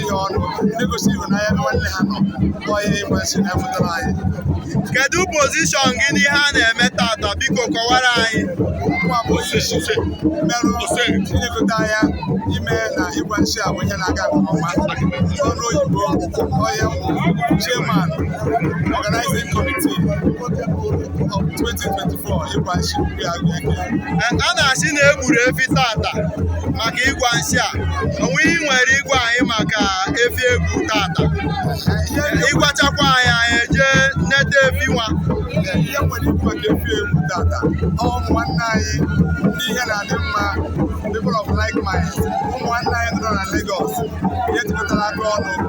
ihe ọnụ ndị gosi ịhụnanya ebe nwanne ha nọ kpọọ ihe ịgwa nsị na-apụtara anyị kedu pozishọn gị n'ihe a na-eme tata biko kọwara anyị mụ nwa bụ onye isi merụ ilekọta anya ime na ịgwa nsị a bụ ihe na-aga nke ọma n'olu oyibo onye m bụ chairman organizing committee of 2024 ịgwa nsị a na-asị na egburu efi tata maka ịgwa nsị a o nwee ihe i nwere ịgwa anyị maka efi egwu tata ịgwachakwa anyị anyị eje neta efi nwa ihe i nwere ikwu maka efi egwu tata ụmụ nwanne anyị ndị ihe na-adị mma people of like mind ụmụ nwanne anyị nọ na Lagos ihe jikọtara aka ọnụ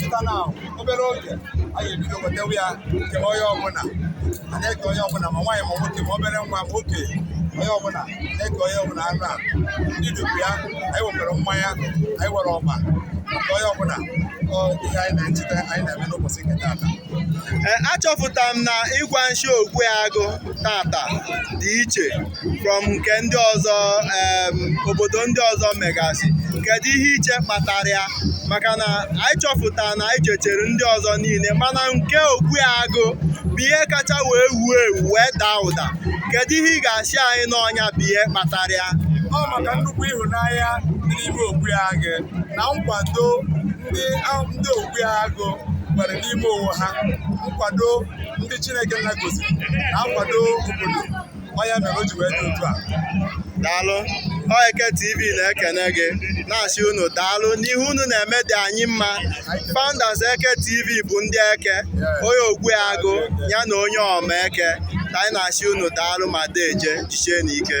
pụta na obere oge anyị ebido wetewe ya nke onye ọbụla a na-eke onye ọbụla ma nwaanyị ma nwoke ma obere nwa ma oke onye ọbụla na-eke onye ọbụla anụ a ndị dukwu ya anyị nwekwara mmanya anyị nwere ọba maka onye ọbụla ihe anyị na-echeta anyị na-eme n'ụbọchị nke taata achọpụtara m na ịgwa nshi Ogui Agụ tata dị iche from nke ndị ọzọ obodo ndị ọzọ megasị kedu ihe i che kpatara ya maka na anyị chọpụtara na anyị jechere ndị ọzọ niile mana nke Ogui Agụ bụ ihe kacha wee wuo ewu wee daa ụda kedu ihe ị ga-asị anyị na ọ nya bụ ihe kpatara ya ọ maka nnukwu ịhụnanya dị n'ime Ogui Agụ na nkwado ndị Ogui Agụ nwere n'ime onwe ha nkwado ndị Chineke gọziri na nkwado obodo ọ nya mere o ji wee dị otu a daalụ ọ eke tv na-ekene gị na-asị unu daalụ n'ihe unu na-eme dị anyị mma founders eke tv bụ ndị eke onye Ogui Agụ ya na onye ọma eke ka anyị na-asị unu daalụ ma deje jichie nụ ike